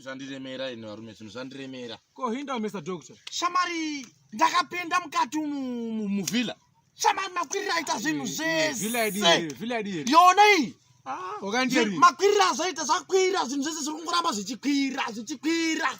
zvandiremera ini varume zvinhu zvandiremera ko hinda mr doctor shamari ndakapinda mukati muvhilla shamari makwirira aita zvinhu zveseyona iyi ah, makwirira azoita zvakwira zvinhu zvese zviri kungoramba zvichikwira zvichikwira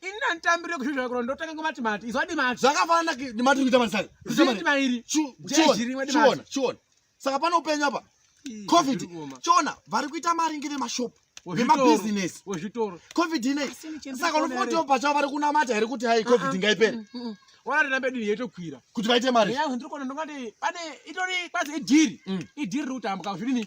ini ndanditambirire kuzvizvara kurona ndotanga ngomatimati izwa dimati zvakafanana dimati rikuita mari saka zvidima iri chiona chiona saka pane upenyu apa covid chiona vari kuita mari ngevemashop vemabhizinesi wezvitoro covid inei saka unofotiwo pachavo vari kunamata here kuti hai covid ngaipere mm, mm, mm. wana rirambe dini yetokwira kuti vaite mari yangu ndiri kuona ndongati pane itori kwazi idhiri idhiri riri kutambwa zvidini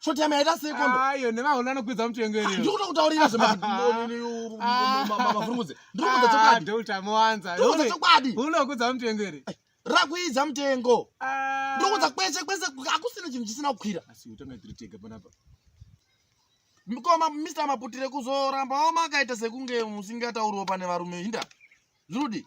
shoti yame yaita sei kondo ayo nevaona anokwidza mutengo iri ndikuda kutaurira zvemavhurungudze ndiri kuudza chokwadi dota mowanza ndiri kuudza chokwadi unokwidza mutengo iri rakuidza mutengo ndiri kuudza kwese kwese akusina chinhu chisina kukwira asi utanga tiri tega panapa mkoma mr maputire kuzoramba omakaita sekunge musingatauriwo pane varume hinda zvirudi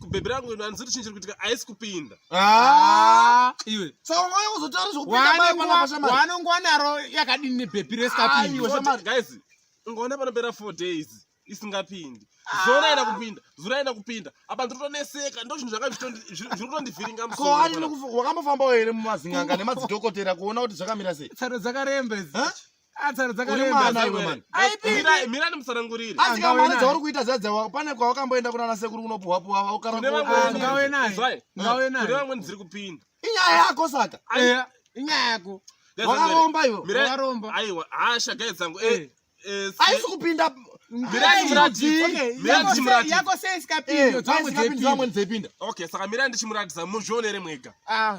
kubhebhi rangu hanzuri chinhu chiri kuitika haisi kupinda ah! iwe saungauya kuzotaura zvekuwanongwa naro yakadini nebhebhi resikapinnguys ungaona panopera four days isingapindi ah! zona aina kupinda zura aina kupinda apa ndiritonetseka ndo zvinhu zvakazviri kutondivhiringa musowakambofanbawo here mumazin'anga nemadzidhokotera kuona kuti zvakamira sei tsaro dzakaremba idzi atsara dzakaremba mira ndimusanangurire asi kana mari dzauri kuita zadzawa pane kwawakamboenda kuna nasekuru unopuhwa puhwa ukaraungawe naye ngawe naye kune vamweni dziri kupinda inyaya yako saka inyaya yako wakaromba iwo wakaromba aiwa hasha gai dzangu eh, eh, aisi kupinda yako sei isikapinda dzamwe dzepinda okay saka mira ndichimuratidza muzvionere mwega ah.